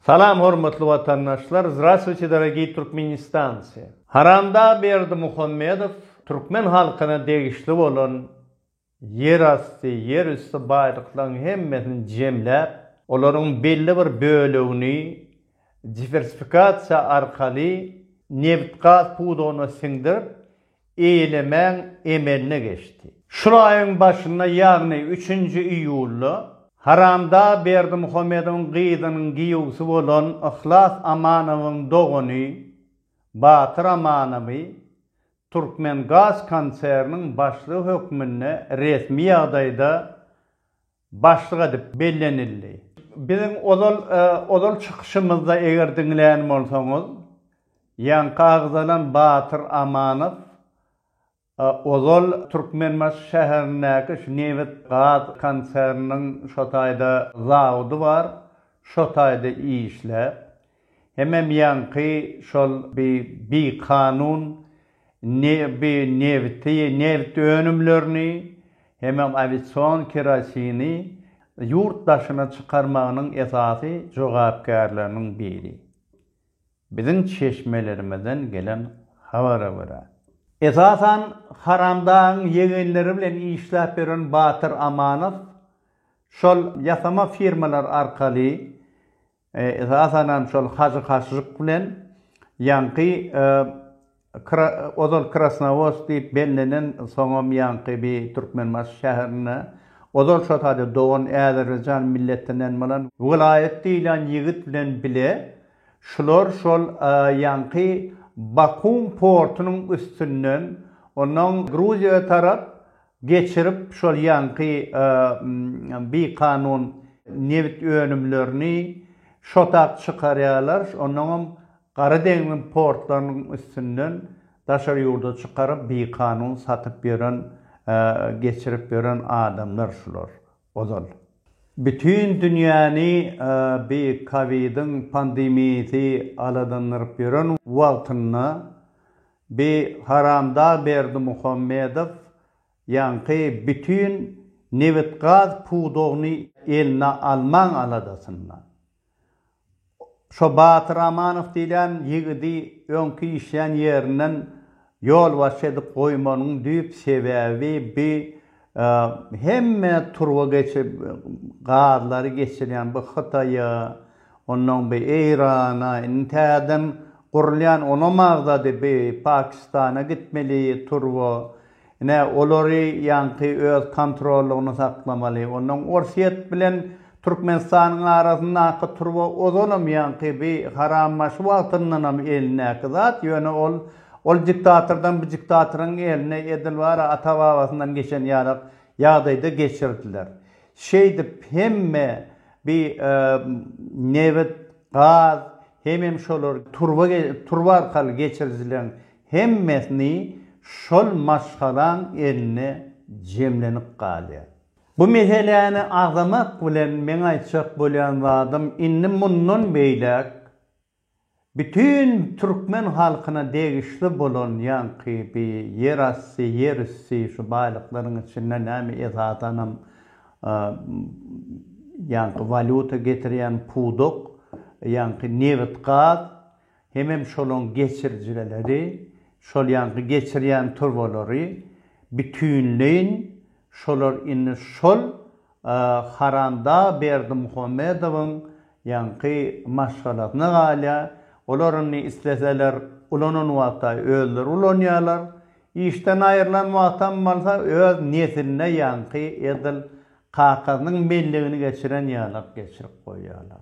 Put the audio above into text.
Salam hormatly watandaşlar Zdrastwuçe dorogiý Turkmenistanci! Haramdag Berdimuhammedow türkmen halkyna degişli bolan ýer asty, ýer üsti baýlyklaryň hemmesini jemläp, olaryň belli bir bölegini diwersifikasiýa arkaly nebit-gaz pudagyna siňdirip, eýlemäň emeline geçdi. Şul aýyň başynda, ýagny üçünji iýulda Haramdag Berdimuhamedowyň gyzynyň giýewsi bolan Yhlas Amanowyň dogany Batyr Amanowy Türkmengaz konserniň başlygy hökmünde resmi ýagdaýda başlyk edip bellenildi. Biziň ozal ozal çykyşymyzda eger diňlän bolsaňyz, ýaňky agzalan Batyr Amanow ozal Türkmenbaşy şäherindäki şu nebit gaz konserniniň şo taýda zawody bar, şo taýda işläp, Hemem ýaňky şol bi bikanun ne bi nebiti, nebit önümlerini, hemem awision kerosini ýurt daşyna çykarmagynyň esasy jogapkärleriniň biri. Biziň çeşmelerimizden gelen habara görä. Esasan Haramdagyň ýegenleri bilen işläp ýören Batyr Amanow şol ýasama firmalar arkaly, Esasanam şol Hajy Haşžyk bilen ýaňky ozal Krasnowost diýip bellenen soňam ýaňky bi Türkmenbaşy şäherinde ozal şo taýda dogan Äzerbeýjan milletinden bolan Welaýat diýlen ýigit bilen bile şular şol ýaňky Bakum portunyň üstünden onnoň Gruziýa tarap geçirip, şol ýaňky bikanun nebit önümlerini şotak çykarýarlar, onnoňam Gara deňziň portlarynyň üstünden daşary ýurda çykaryp, bikanun satyp ýören, geçirip ýören adamlar şular, ozal. Bütin dünýäni bi kowidiň pandemiýasy aladandyryp ýören wagtynda Bi haramdag Berdimuhamedow ýaňky bütin nebit gaz pudagyny eline almaň aladasynda. Şo Batyr Amanow diýilýän ýigidi öňki işlän ýerinden ýolbaşçy edip goýmanyň düýp sebäbi bi Hemme turba geçip gazlary geçirýän bu Hytaýa, onnoň bi Eýrana, indi täzeden gurulýan onam agzady bi Pakistana gitmeli turba. Ine, olary ýaňky öz kontrollygyny saklamaly. Onnoň Orsýet bilen Türkmenistanyň arasyndaky turba ozanam ýaňky bi Harambaşy wagtyndanam elindäki zat, ýöne ol Ol diktatordan bu diktatoryň eline edil bara ata-babasyndan geçen ýarak ýagdaýda geçirdiler. Şeýdip hemme bi nebit, gaz hemem şolar turba turba arkaly geçirijileň hemmesini şol maşgalaň eline jemlenip galýar. Bu meseläni agzamak bilen meň aýtjak bolýan zadym indi mundan beýläk Bütin türkmen halkyna degişli bolan ýaňky bi ýerasty, ýerüsti şu baýlyklaryň içinde näme esasanam ýaňky walýuta getirýän pudak, ýaňky nebit-gaz, hemem şolaň geçirijireleri, şol ýaňky geçirýän turbalary bütinleýin şolar indi şol Haranda Berdimuhamedowyň ýaňky maşgalasyna galýar. Olar indi isleseler ulanan wagta özleri ulanýarlar. Işden aýrylan wagtam bolsa öz nesline ýaňky edil kakasynyň mellegini geçiren ýalak geçirip goýýarlar.